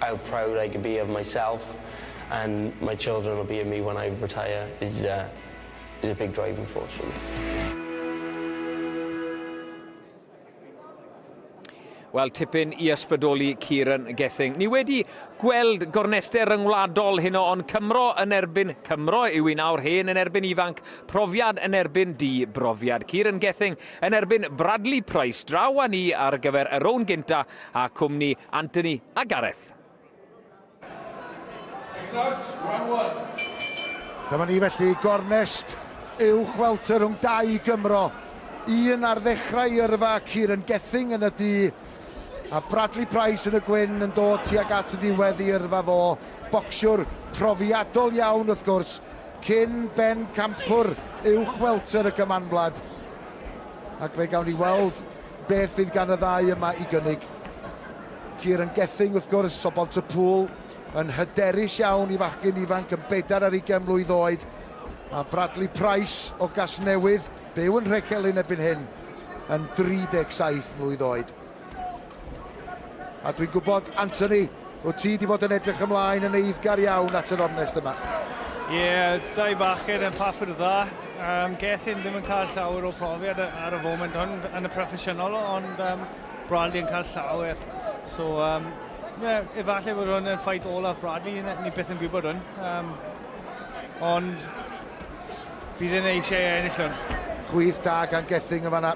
How proud I can be of myself and my children will be of me when I retire is a is a big driving force for me. Wel, tipyn i ysbrydoli Kieran Gething. Ni wedi gweld gornester ryngwladol hyn o'n Cymro yn erbyn Cymro yw un awr hen yn erbyn ifanc, profiad yn erbyn di brofiad. Kieran Gething yn erbyn Bradley Price draw â ni ar gyfer y rown gynta a cwmni Anthony a Gareth. Dyma ni felly, gornest uwch welter rhwng dau Gymro. Un ar ddechrau yrfa, Kieran Gething yn y du, a Bradley Price yn y gwyn yn dod tuag at y ddiwedd i yrfa fo. Bocsiwr profiadol iawn wrth gwrs, cyn ben campwr uwch welter y Gymanwlad. Ac fe gawn ni weld Beth fydd gan y ddau yma i gynnig? Kieran Gething, wrth gwrs, o Bontypŵl, yn hyderus iawn i fachgyn ifanc yn bedair ar ugain mlwydd oed, a Bradley Price o Gasnewydd, byw yn Nhrecelyn erbyn hyn, yn 37 mlwydd oed. A dwi'n gwybod, Anthony, Wyt ti 'di fod yn edrych ymlaen yn eiddgar iawn at yr ornest yma? Ie, dau bachgen yn papur dda. Um, Gethin ddim yn cael llawer o profiad ar y foment hwn yn y proffesiynol, ond um, Bradley yn cael llawer. So, um, ie, efallai bod hwn yn ffait olaf Bradley, ni byth yn gwybod hwn. Um, ond bydd yn eisiau ennill hwn. Chwyth da gan Gething yn fanna.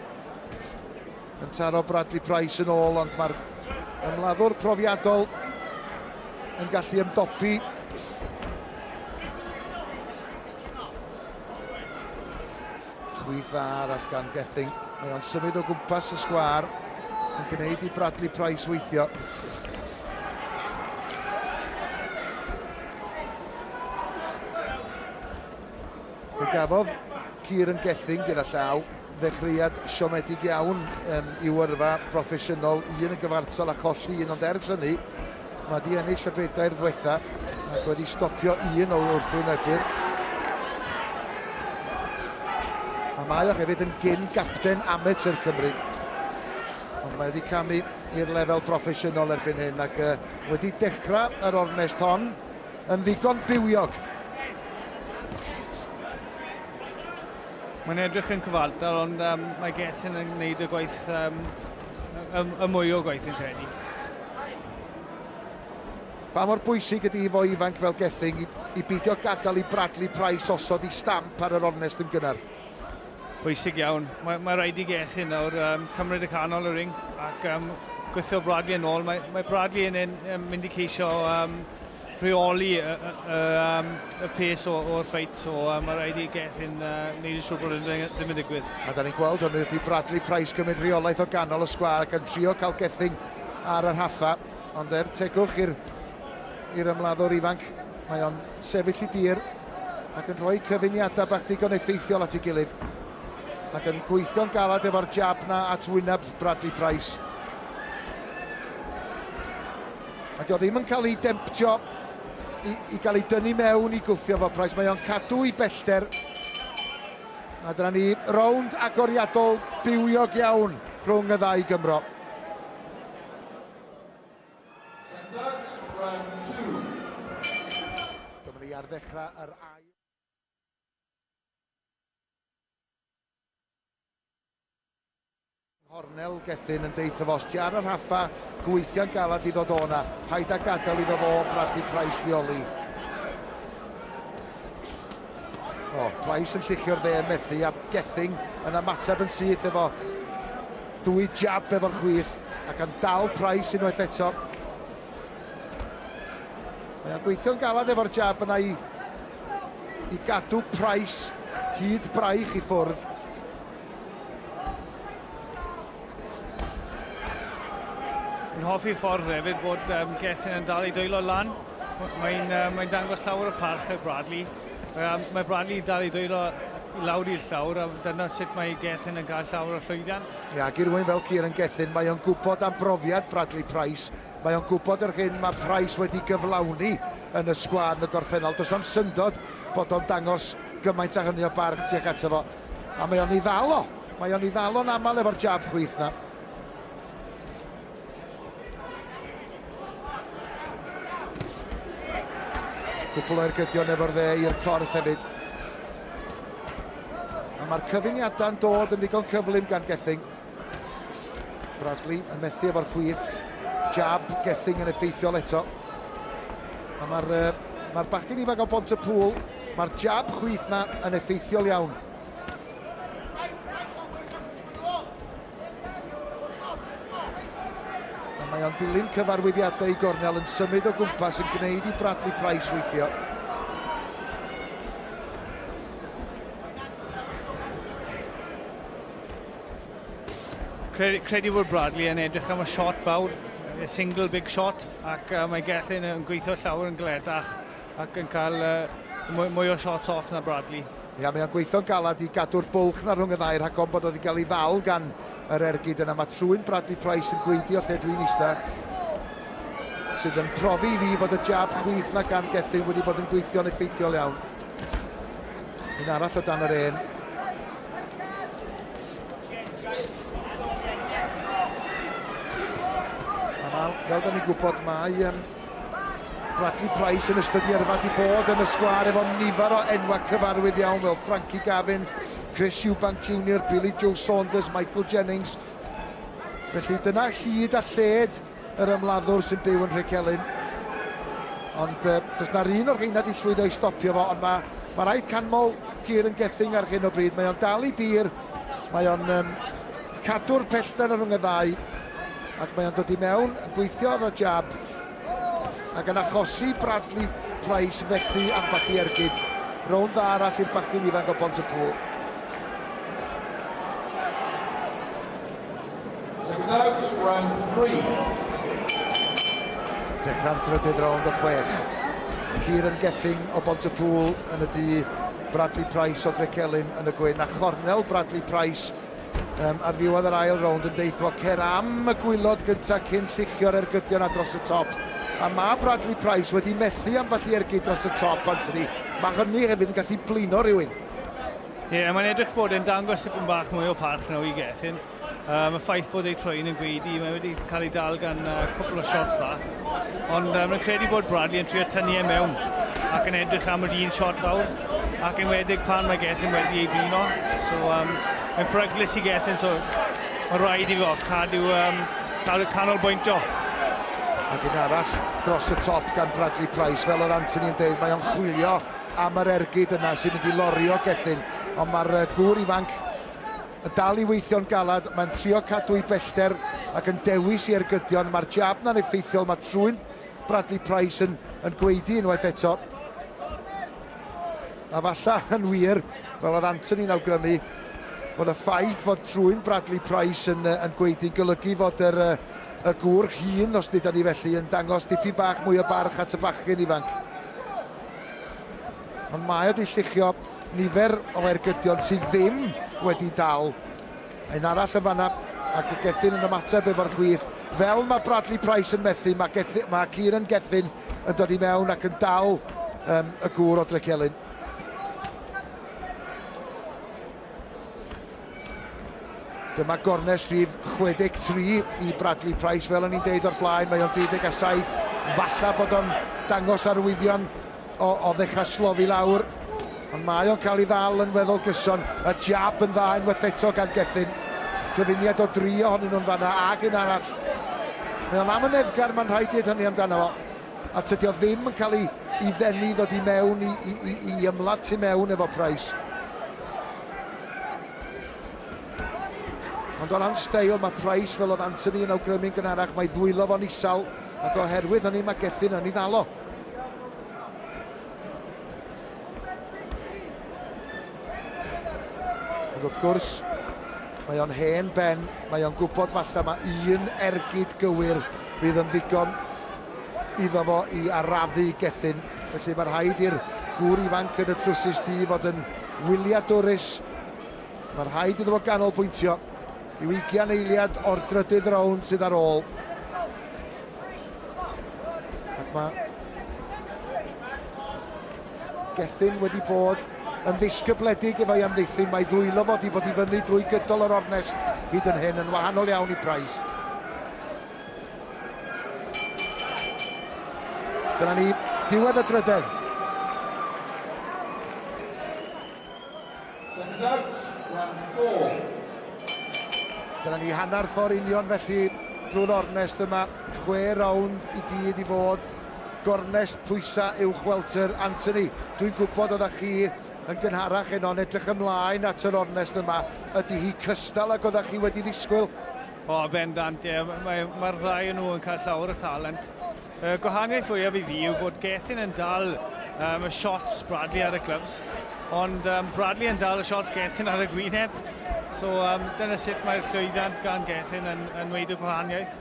Yn taro Bradley Price yn ôl ond mae'r ymladdwr profiadol yn gallu ymdopi. Chwith dda arall gan Gething. Mae o'n symud o gwmpas y sgwar yn gwneud i Bradley Price weithio. Fe gafodd Kieran Gething gyda llaw Ddechreuad siomedig iawn yn i'w yrfa broffesiynol, un yn gyfartal a cholli un ond ers hynny mae 'di ennill y bedair ddwetha ac wedi stopio un o wrthwynebwyr. A mae o hefyd yn gyn gapten amatur Cymru. Ond mae wedi camu i'r lefel broffesiynol erbyn hyn ac uh, wedi dechrau yr ornest hon yn ddigon bywiog. Mae'n edrych yn cyfartal ond um, mae Gethin yn gwneud y gwaith, um, y, y mwy o gwaith yn credu. Pa mor bwysig ydy hi fo ifanc fel Gething i, i beidio gadael i Bradley Price osod i stamp ar yr ornest yn gynnar? Bwysig iawn. Mae, mae rhaid i Gething nawr um, cymryd y canol y ring ac um, gweithio Bradley yn ôl. Mae, mae Bradley yn, yn, yn mynd i ceisio um, rheoli y pes o'r ffeit, so mae rhaid i Gethin wneud yn siŵr bod hyn ddim yn digwydd. A da ni'n gweld hwn wrth i Bradley Price gymryd rheolaeth o ganol y sgwar ac yn trio cael Gethin ar yr haffa, ond er tegwch i'r ymladdwr ifanc, mae o'n sefyll i dir ac yn rhoi cyfuniadau bach digon effeithiol at ei gilydd ac yn gweithio'n galed efo'r jab na at wyneb Bradley Price. A dio ddim yn cael ei demtio i, i gael ei dynnu mewn i gwffio fo Price. Mae o'n cadw i bellter. A dyna ni, rownd agoriadol bywiog iawn rhwng y ddau Gymro. Dyma ni ar ddechrau yr ail. Nghornel Gethin yn deutho fo, os ti ar y rhaffa, gweithia'n galad i ddod o 'na. Paid â gadael iddo fo brathu Trais Fioli. O, Trais yn lluchio'r dde yn methu a Gething yn ymateb yn syth efo dwy jab efo'r chwith ac yn dal Trais unwaith eto. Mae o'n gweithio'n galad efo'r jab yna i, i gadw Price hyd braich i ffwrdd. Yn hoffi'r ffordd hefyd bod um, Gethin yn dal ei dwylo lan. Mae'n uh, mae dangos llawer o parch ar Bradley. Um, mae Bradley yn dal ei dwylo lawr i'r llawr a dyna sut mae Gethin yn cael llawer o llwyddiant. Ia, ac i rwy'n fel Kieran Gethin, mae o'n gwybod am brofiad Bradley Price. Mae o'n gwybod yr hyn mae Price wedi gyflawni yn y sgwad yn y gorffennol. Does o'n syndod bod o'n dangos gymaint a hynny o barch tuag ato fo. A mae o'n ei ddal o. Mae o'n ei ddal o'n aml efo'r jab chwith na. Cwpl o ergydion efo'r dde i'r corff hefyd. A mae'r cyfuniadau'n dod yn ddigon cyflym gan Gething. Bradley yn methu efo'r chwith. Jab Gething yn effeithiol eto. A mae'r uh, ma bachgen ifanc o Bont y Pŵl, mae'r jab chwith na yn effeithiol iawn. A mae o'n dilyn cyfarwyddiadau i gornel yn symud o gwmpas yn gwneud i Bradley Price weithio. Credu, credu bod Bradley yn edrych am y shot fawr, y single big shot, ac uh, mae Gethin yn gweithio llawer yn gledach ac yn cael uh, mwy, mwy o shots off na Bradley. Ia, mae o'n gweithio'n galad i gadw'r bwlch na rhwng y ddau rhag o'n bod oedd wedi cael ei ddal gan yr ergyd yna. Mae trwy'n Bradley Price yn gweidio lle dwi'n eista sydd yn profi i fi fod y jab chwith na gan Gethin wedi bod yn gweithio'n effeithiol iawn. Un arall o dan yr un. Amal, fel da ni'n gwybod, mae um, Bradley Price yn ystod i yrfa di bod yn y sgwar efo nifer o enwa cyfarwydd iawn fel Frankie Gavin, Chris Eubank Jr, Billy Joe Saunders, Michael Jennings. Felly dyna hyd a lled Yr ymladdwr sy'n byw yn Nhrecelyn. Ond uh, does na'r un o'r rheina di llwyddo i stopio fo, ond mae ma rhaid canmol Cyr yn gething ar hyn o bryd. Mae o'n dal i dir, mae o'n um, cadw'r pellter ar rhwng y ddau, ac mae o'n dod i mewn yn gweithio ar y jab, ac yn achosi Bradley Price fethu ambell i ergyd. Rown dda arall i'r bachgyn ifanc o Bont y Pŵl. Dechrau'r drydydd rownd o chwech. Kieran Gething o Bont-y-pŵl yn y du, Bradley Price o Drecelyn yn y gwyn, a chornel Bradley Price um, ar ddiwedd yr ail rownd yn deithio cer am y gwylod gyntaf cyn lluchio'r ergydion a dros y top. A mae Bradley Price wedi methu ambell i ergyd dros y top, Anthony. Mae hynny hefyd yn gallu blino rhywun. Ie, yeah, mae'n edrych bod e'n dangos tipyn bach mwy o parch na i Gethin. Um, y ffaith bod ei troi'n yn gweidi, mae wedi cael ei dal gan uh, cwpl o shots dda. Ond um, mae'n credu bod Bradley yn trio tynnu e mewn ac yn edrych am yr un shot fawr. Ac yn wedig pan mae Gethin wedi ei bino. So, um, mae'n pryglus i Gethin, so mae'n rhaid i fo cadw, um, cadw canol bwyntio. Ac un arall dros y top gan Bradley Price, fel oedd Anthony yn dweud, mae o'n chwilio am yr ergyd yna sy'n mynd i lorio Gethin, ond mae'r yy gŵr ifanc yn dal i weithio'n galad, mae'n trio cadw'i bellter ac yn dewis i ergydio, ond mae'r jab 'na'n effeithiol, mae trwyn Bradley Price yn yn gwaedu unwaith eto. A falla yn wir, fel oedd Anthony'n awgrymu, bod y ffaith fod trwyn Bradley Price yn yn gwaedu'n golygu fod yr yy y gŵr hŷn, os dydan ni felly, yn dangos dipyn bach mwy o barch at y bachgen ifanc. Ond mae wedi lluchio nifer o ergydion sydd ddim wedi dal. Un arall yn fanna, ac y Gethin yn ymateb efo'r chwith. Fel mae Bradley Price yn methu, mae, Gethin, mae Kieran Gethin yn dod i mewn ac yn dal um, y gŵr o Drecelyn. Dyma gornest rhif 63 i Bradley Price, fel o'n i'n deud o'r blaen, mae o'n 27, falla bod o'n dangos arwyddion o, o ddechrau slofi lawr, ond mae o'n cael ei ddal yn weddol gyson, y jab yn dda unwaith eto gan Gethin, cyfuniad o dri ohonyn nhw'n fanna ag un arall. Mae o'n amyneddgar, mae'n rhaid dweud hynny amdano fo, a tydio ddim yn cael ei, ei ddenu i ddod i mewn i, i, i, i ymladd tu mewn efo Price. Ond o ran steil, mae Price, fel oedd Antony yn awgrymu'n gynharach, mae ddwylo fo'n isel, ac oherwydd hynny mae Gethin yn ei ddalo. Ond wrth gwrs, mae o'n hen ben, mae o'n gwybod falle mae un ergyd gywir fydd yn ddigon iddo fo i arafu Gethin, felly mae rhaid i'r gŵr ifanc yn y trwsus du fod yn wyliadwrus. Mae rhaid iddo fo ganolbwyntio i'w ugian eiliad o'r drydydd rownd sydd ar ôl. Ac mae Gethin wedi bod yn ddisgybledig efo'i amddiffyn. Mae ddwylo fod i fod i fyny drwy gydol yr ornest hyd yn hyn yn wahanol iawn i Price. Dyna ni, diwedd y drydedd. Second out, round four. Dyna ni hanner ffordd union felly drwy'r ornest yma, chwe rownd i gyd i fod gornest pwysa uwch welter Anthony. Dwi'n gwybod oeddech chi yn gynharach heno yn edrych ymlaen at yr ornest yma. Ydy hi cystal ag oeddech chi wedi ddisgwyl? O, bendant, ie. Mae'r mae ddau yn nhw yn cael llawer o talent. Y gwahaniaeth fwyaf i fi yw bod Gethin yn dal um, y shots Bradley ar y clubs, ond um, Bradley yn dal y shots Gethin ar y gwyneb. So, um, dyna sut mae'r llwyddiant gan Gethin yn, yn wneud y gwahaniaeth.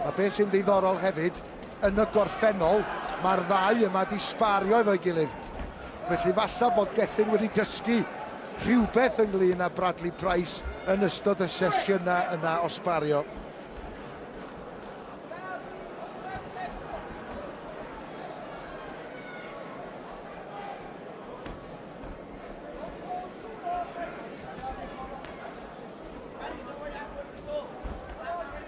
A beth sy'n ddiddorol hefyd Yn y gorffennol, mae'r ddau yma 'di sbario efo'i gilydd, felly falla bod Gethin wedi dysgu rhywbeth ynglŷn â Bradley Price yn ystod y sesiynau yna o sbario.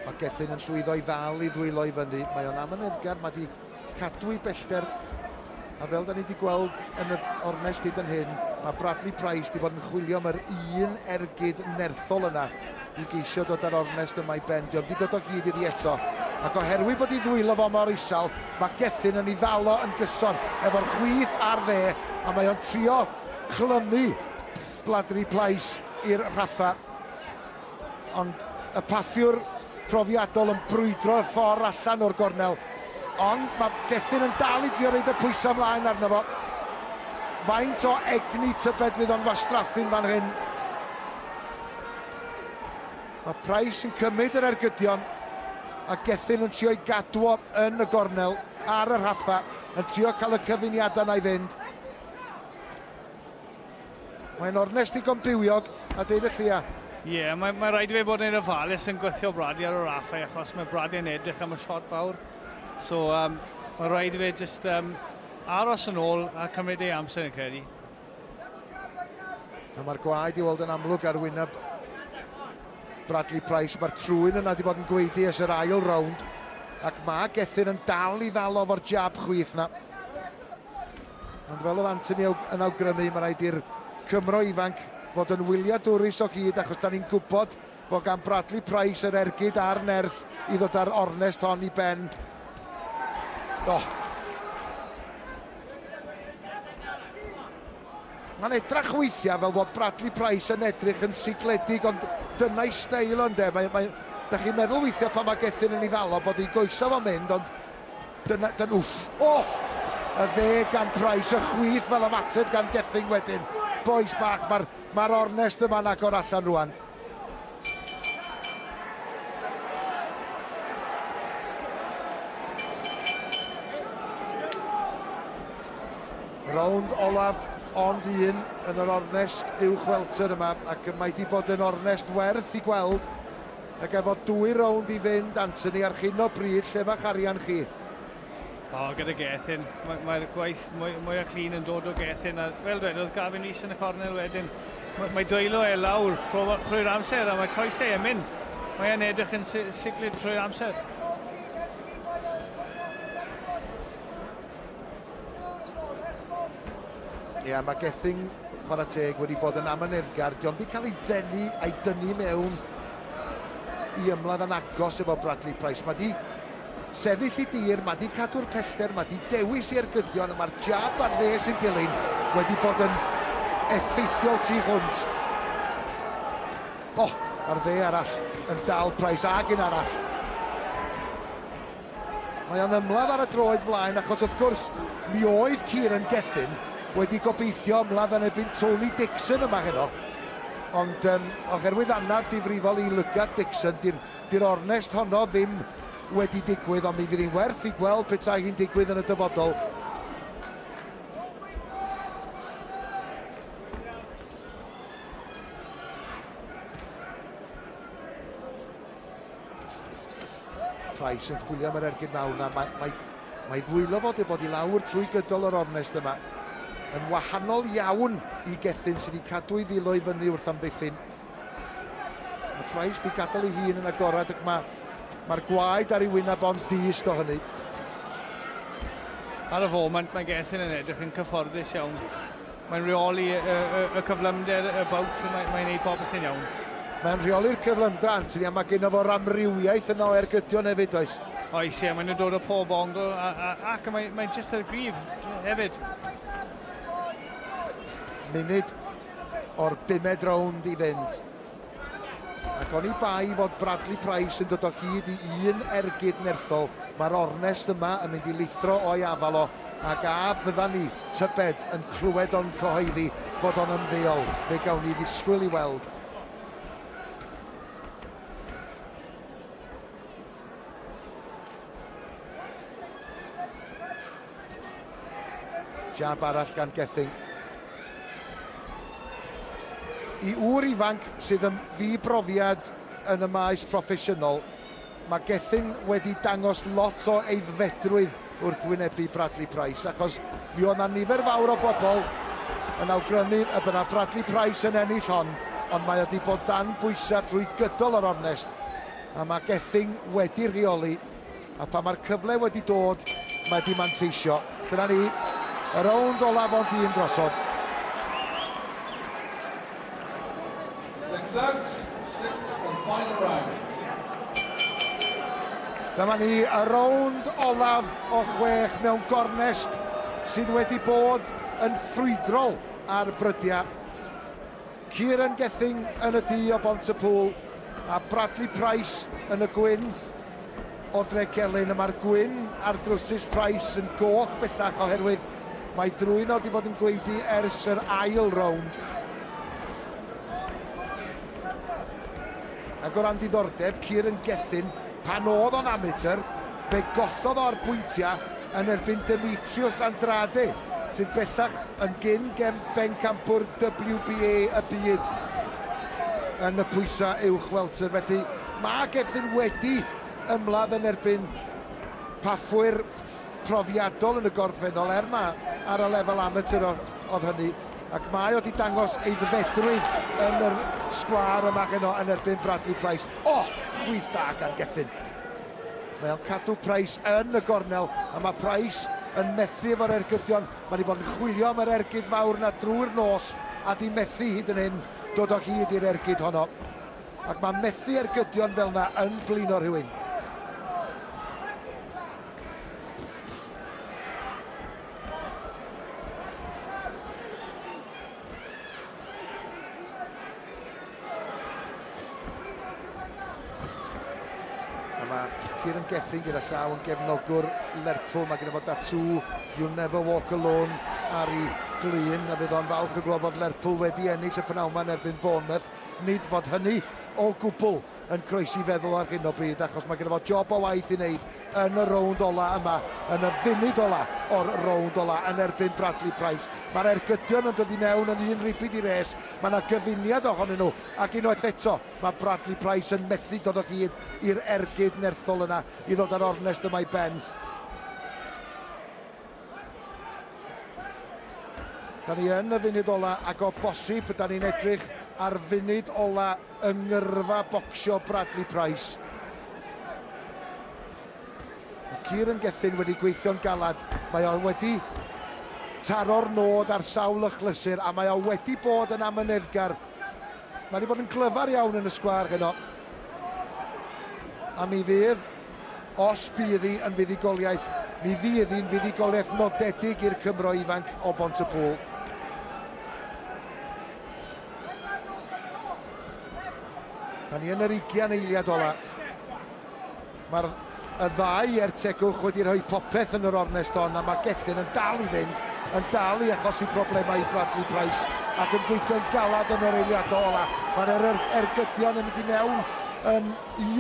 Mae Gethin yn llwyddo i ddal i ddwylo i fyny. Mae o'n amyneddgar, mae wedi cadw i bellter. A fel da ni wedi gweld yn yr ornest hyd yn hyn, mae Bradley Price wedi bod yn chwilio am yr un ergyd nerthol yna i geisio dod â'r ornest yma i ben. Diolch wedi dod o hyd iddi eto. Ac oherwydd bod i ddwylo fo mor isal, mae Gethin yn ei ddalo yn gyson efo'r chwith ar dde, a mae o'n trio clymu Bladri plais i'r Rhaffa, ond y paffiwr profiadol yn brwydro'r ffordd allan o'r gornel. Ond mae Gethin yn dal i drio roed y pwysau ymlaen arno fo. Faint o egni tybed fydd o'n wastraffu'n fan hyn? Mae Price yn cymryd yr ergydion a Gethin yn trio i gadw o yn y gornel ar y Rhaffa, yn trio cael y cyfuniadau 'na i fynd. Mae'n ornest ddigon bywiog a deud y llia. Ie, yeah, mae, mae rhaid i fe bod yn ofalus yn gweithio Brady ar yr affau achos mae Brady yn edrych am y shot fawr. So, um, mae rhaid i fe just um, aros yn ôl a cymryd ei amser yn credu. A mae'r gwaed i weld yn amlwg ar wyneb Bradley Price. Mae'r trwyn yna wedi bod yn gweidi ys yr ail rownd. Ac mae Gethin yn dal i ddal o'r jab chwith na. Ond fel oedd Anthony yn awgrymu, mae rhaid i'r Cymro ifanc fod yn wyliadwrus o hyd achos da ni'n gwybod bod gan Bradley Price yr ergyd a'r nerth i ddod â'r ornest hon i ben. Oh. Mae'n edrach weithiau fel fod Bradley Price yn edrych yn sigledig, ond dyna'i steil ond e. Mae, mae, da chi'n meddwl weithiau pan mae Gethin yn ei ddalo bod ei goesau fo'n mynd, ond Dyna, dyna, wff! O! Y ddeg gan Price, y chwith fel ymateb gan Gething wedyn. Bois bach, mae'r ma ornest yma'n agor allan rwan. Rownd olaf, ond un yn yr ornest uwch welter yma, ac mae wedi bod yn ornest werth i gweld Ac efo dwy rownd i fynd, Anthony, ar hyn o bryd, lle mae'ch arian chi? O, gyda Gethin. Mae'r mae gwaith mwy, mwy o clean yn dod o Gethin. A fel dwedodd Gavin Rees yn y cornel wedyn, mae, mae dwylo e lawr trwy'r amser a mae coesau yn mynd. Mae e'n edrych yn siclyd trwy'r amser. Ia, mae Gething, chwarae teg, wedi bod yn amyneddgar. Diolch wedi cael ei ddenu a'i dynnu mewn i ymladd yn agos efo Bradley Price. Mae di sefyll i dir, mae di cadw'r pellter, mae di dewis i ergydion, a mae'r jab ar dde sy'n dilyn wedi bod yn effeithiol tu hwnt. O, oh, mae'r dde arall yn dal Price ag un arall. Mae o'n ymladd ar y droed flaen achos wrth gwrs mi oedd Kieran Gethin wedi gobeithio ymladd yn erbyn Tony Dixon yma heno ond um, oherwydd anaf difrifol i lygad Dixon di'r di ornest honno ddim wedi digwydd ond mi fydd hi'n werth i gweld petai hi'n digwydd yn y dyfodol. Price yn chwilio am yr ergyd mawr yna. Mae, mae, mae ddwylo fod ei bod i lawr trwy gydol yr ornest yma. Yn wahanol iawn i Gethin sydd wedi cadw ei ddilo i fyny wrth amddiffyn. Mae Price wedi gadael ei hun yn agorad ac mae Mae'r gwaed ar ei wyneb ond dist o hynny. Ar y foment mae Gethin yn edrych yn cyfforddus iawn. Mae'n rheoli y cyflymder y bowt, mae'n gwneud popeth yn iawn. Mae'n rheoli'r cyflymder Anthony a mae gynno fo'r amrywiaeth yna o ergydion hefyd does? Oes ie, maen nhw'n dod o pob ongl ac mae'n jyst ar y gryf hefyd. Munud o'r bumed rownd i fynd. Ac oni bai fod Bradley Price yn dod o hyd i un ergyd nerthol, mae'r ornest yma yn mynd i lithro o'i afal o, ac a fyddan ni, tybed, yn clywed o'n cyhoeddi fod o'n ymddeol? Fe gawn ni ddisgwyl i weld. Jab arall gan Gething. I ŵr ifanc sydd yn ddi-brofiad yn y maes proffesiynol, mae Gething wedi dangos lot o aeddfedrwydd wrth wynebu Bradley Price, achos mi oedd 'na nifer fawr o bobl yn awgrymu y bydda Bradley Price yn ennill hon, ond mae o wedi bod dan bwysau trwy gydol yr ornest, a mae Gething wedi rheoli A phan mae'r cyfle wedi dod, mae wedi manteisio. Dyna ni, y rownd olaf ond un drosodd. Dyma ni, y rownd olaf o chwech mewn gornest sydd wedi bod yn ffrwydrol ar brydiau. Kieran Gething yn y du o Bont-y-pŵl a Bradley Price yn y gwyn o Drecelyn. Y mae'r gwyn ar drwsus Price yn goch bellach oherwydd mae drwyn o di fod yn gweidi ers yr ail rownd. Ac o ran diddordeb, Kieran Gething Pan oedd o'n amatur, fe gollodd o ar bwyntiau yn erbyn Demetrius Andrade, sydd bellach yn gyn-gem bencampwr WBA y byd yn y pwysau uwch welter. Felly, mae Gethin wedi ymladd yn erbyn paffwyr profiadol yn y gorffennol, er mai ar y lefel amatur oedd hynny. Ac mae o 'di dangos aeddfedrwydd yn yr sgwâr yma heno yn erbyn Bradley Price. O! Rwydd da gan Gethin. Mae o'n cadw Price yn y gornel, a mae Price yn methu efo'r ergydion. Mae wedi bod yn chwilio am yr ergyd fawr yna drwy'r nos, a di methu hyd yn hyn dod o hyd i'r ergyd honno. Ac mae methu ergydion fel yna yn blino rhywun. Kieran Gethin gyda llaw yn gefnogwr Lerpwl. Mae gyda fod datw You Never Walk Alone ar ei glun a bydd o'n falch o glod fod Lerpwl wedi ennill y pnawn yma yn erbyn Bournemouth. Nid fod hynny o gwbl yn croesi feddwl ar hyn o bryd achos mae gen fo job o waith i wneud yn y rownd ola yma, yn y funud ola o'r rownd ola yn erbyn Bradley Price. Mae'r ergydion yn dod i mewn yn un ribid i res, mae yna gyfuniad ohonyn nhw ac unwaith eto mae Bradley Price yn methu dod o hyd i'r ergyd nerthol yna i ddod â'r ornest yma i ben. Da ni yn y funud ola ac o bosib da ni'n edrych ar funud ola yng ngyrfa bocsio Bradley Price. Mae Kieran Gethin wedi gweithio'n galad, mae o wedi taro'r nod ar sawl ychlysur a mae o wedi bod yn amyneddgar Mae wedi bod yn glyfar iawn yn y sgwâr heno. A mi fydd, os bydd hi yn fuddugoliaeth, mi fydd hi'n fuddugoliaeth nodedig i'r Cymro ifanc o Bont y Pŵl. Da ni yn yr 20 eiliad ola. Mae'r y ddau ertegwch wedi rhoi popeth yn yr ornest hon a mae Gethin yn dal i fynd, yn dal i achosi problemau i Bradley Price ac yn gweithio'n galed yn yr eiliadau ola. Mae'r er er ergydion yn mynd i mewn yn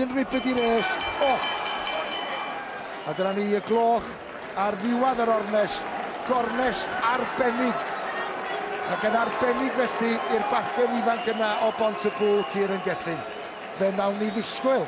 un ribyd i res. Oh! A dyna ni y gloch ar ddiwedd yr ornest, gornest arbennig ac yn arbennig felly i'r bachgen ifanc yna o Bont y Bŵ, Kieran Gethin. Fe wnawn ni ddisgwyl